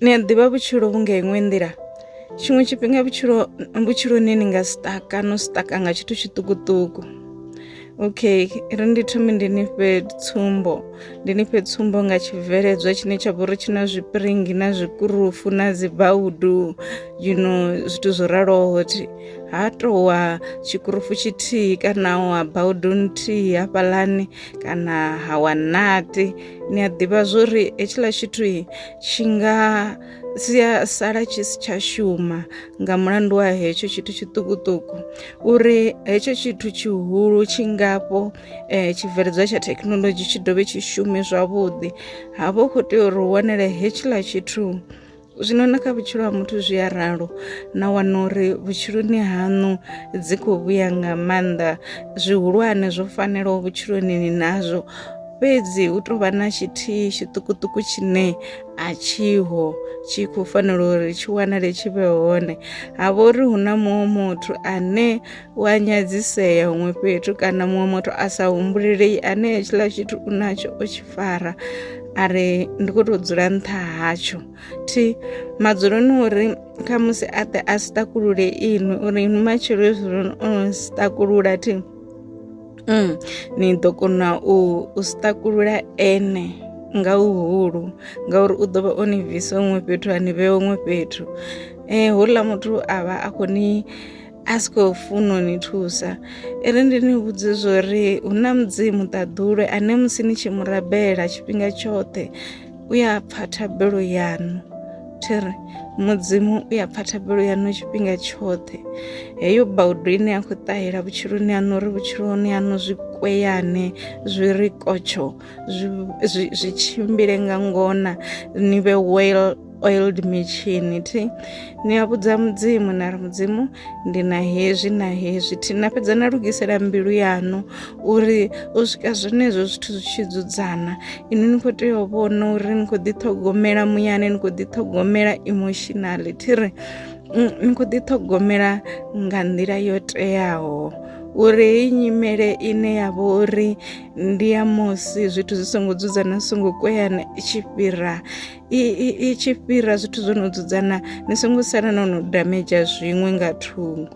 ni a ḓivha vhutshilo vhu nga iṅwe nḓila tshiṅwe tshifhinga vhutshilo vhutshiloni ni nga sitaka no sitaka nga tshithu tshiṱukuṱuku okay ri ndi thome ndi ni fhe tsumbo ndi ni fhe tsumbo nga tshibveledzwa tshine tsha vha uri tshi na zwipiringi na zwikurufu na dzi baudu you know zwithu zwo raloho thi ha towa tshikurufu tshithihi kana wa baudu nthihi hafhaḽani kana ha wa nati ni a ḓivha zwori hetshiḽa tshithu tshi nga si a sala tshi si tsha shuma nga mulandu wa hetsho tshithu tshiṱukuṱuku uri hetsho tshithu tshihulu tshi ngafho um eh, tshibveledzwa tsha thekhinolodzhi tshi dovhe tshi shume zwavhuḓi ha vha u khou tea uri u wanele hetshiḽa tshithu zwino na kha vhutshilo ha muthu zwi a ralo na wana uri vhutshiloni haṋu dzi khou vhuya nga maanḓa zwihulwane zwo fanelaho vhutshiloni ni nazwo fhedzi hu tou vha na tshithihi tshiṱukuṱuku tshine a tshiho tshi khou fanela uri tshi wanale tshi vhe hone ha vha uri hu na muṅwe muthu ane u a nyadzisea huṅwe fhethu kana muṅwe muthu a sa humbulelei ane hetshiḽa tshithu u natsho o tshi fara a ri ndi khou tou dzula nṱha hatsho thi madzuloni uri khamusi a ḓe a si takulule inwi uri inwi matshelo hezwinoni o no si takulula thi Mm, ni ḓo kona u u sṱakulula ene nga uhulu ngauri u ḓo vha o ni bvisa huṅwe fhethu a ni vhea huṅwe fhethu um houḽa muthu a vha a khou ni a si khou funa u ni thusa i ri ndi ni vhudze zwo ri hu na mudzimu ṱaḓulu ane musi ni tshi mu rabela tshifhinga tshoṱhe u ya pfa thabelo yaṋu thi ri mudzimu u ya pfa thabelo yaṋu tshifhinga tshoṱhe heyo baudo ine ya khou ṱahela vhutshiloni haṋu uri vhutshiloni haṋu zwi kweyane zwi ri kotsho zwi tshimbile nga ngona ni vhe well oiled mitshini thi ni a vhudza mudzimu na ri mudzimu ndi na hezwi na hezwi thina fhedza na lugisela mbilu yaṋu uri u swika zwenezwo zwithu zwi tshi dzudzana ini ni khou tea u vhona uri ni khou ḓiṱhogomela muyani ni khou ḓiṱhogomela emotionally thi ri mm, ni khou ḓiṱhogomela nga nḓila yo teaho uri heyi nyimele ine ya vha uri ndi ya musi zwithu zwi songo dzudzana zwi songo kweana i tshi fhira i tshi fhira zwithu zwo no dzudzana ni songo sala no no damedzha zwiṅwe nga thungo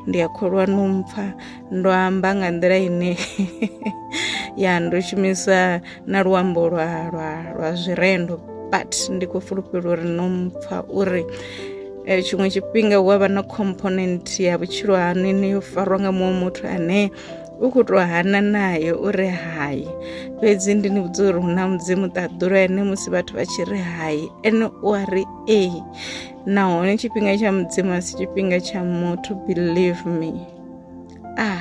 ndi a kholwa no mpfa ndo amba nga nḓila ine ya ndo shumisa na luambo lwa lwa lwa zwirendo but ndi khou fulufhela uri no mpfa uri eh, tshiṅwe tshifhinga hu avha na component ya vhutshilo hanu ine yo farwa nga muṅwe muthu ane u khou tou hana naye u ri hai fhedzi ndi ni vhudza uri hu na mudzimu ṱaḓulo ene musi vhathu vha tshi ri hai ene u a ri ee nahone tshifhinga tsha mudzimu a si tshifhinga tsha muthu believe me ah